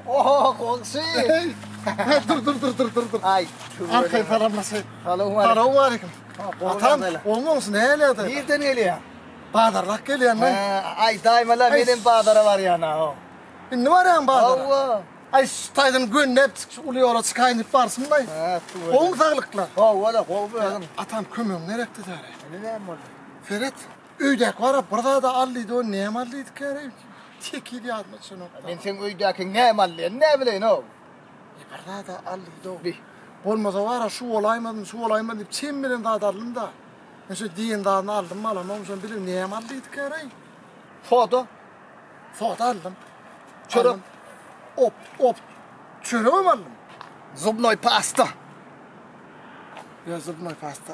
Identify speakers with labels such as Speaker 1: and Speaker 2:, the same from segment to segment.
Speaker 1: Oho, goňşy! Dur, dur, dur, dur, dur, dur. Ay, Arkay salamlasay. Salam aleyküm. Salam aleyküm. Atam, olmaňsy näle ýaly? Nirden gelýär? Bazarlak gelýän men. Ay, daýmala menem bazara barýan ha. Indi barýan bazara. Hawa. Ay, şu taýdan göndep uly ýola çykaýyn diýip barsyn baý. Ha, tuwa. Goň saglyklar. Hawa, goň özüm. Atam kömegiň gerekdi däre. Indi näme boldy? Seret. Öýdäki barap bir zada al diýdi, o näme al diýdi käre? Tekiz ýadyma çynok. Men seň öýdäkiň näme aldyny näbileýin-ow? E bir zada al diýdi-ow. Diý. Bolmasa bara şu bolaýmasyn, şu bolaýmasyn diýip çem bilen zat aldym-da. Men şu diýen zadyny aldym, alamam, şony bilip näme al diýdi käre? Soda. Soda aldym. Çörek. Op, op. Çöregem aldym. Zubnoý pasta. Ýa zubnoý pasta.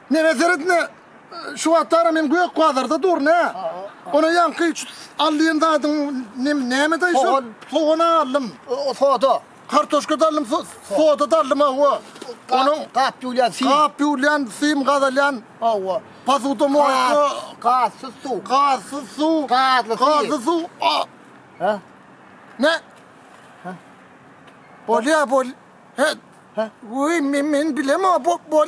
Speaker 1: Menä seret ine, şu wagtara men gök bazarda durun hä. Ony ýaňky şu alýan zadyň neme nämede şu? Sogan. Sogan aldym. O soda. Kartoşka da aldym, so- soda da aldym hawa. Onuň Onuň gap ýulýan sim. gap ýurlan, sim gazalýan, Hawa. posuda molko, Gazsyz suw. gazsyz suw, Gazly suw. gazly suw. a- Ha? Ne? Bolýa bol. He. He. Uy, men men bilem o bol bol.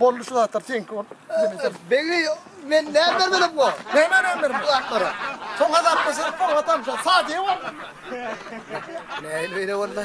Speaker 1: Boldy şu zatlar seňki bol. Begi men näme bermedim bu? Näme näme bermedim? Bu atlara. Soň azap keser, soň atam şu sadiye bol. Näil beýle boldy?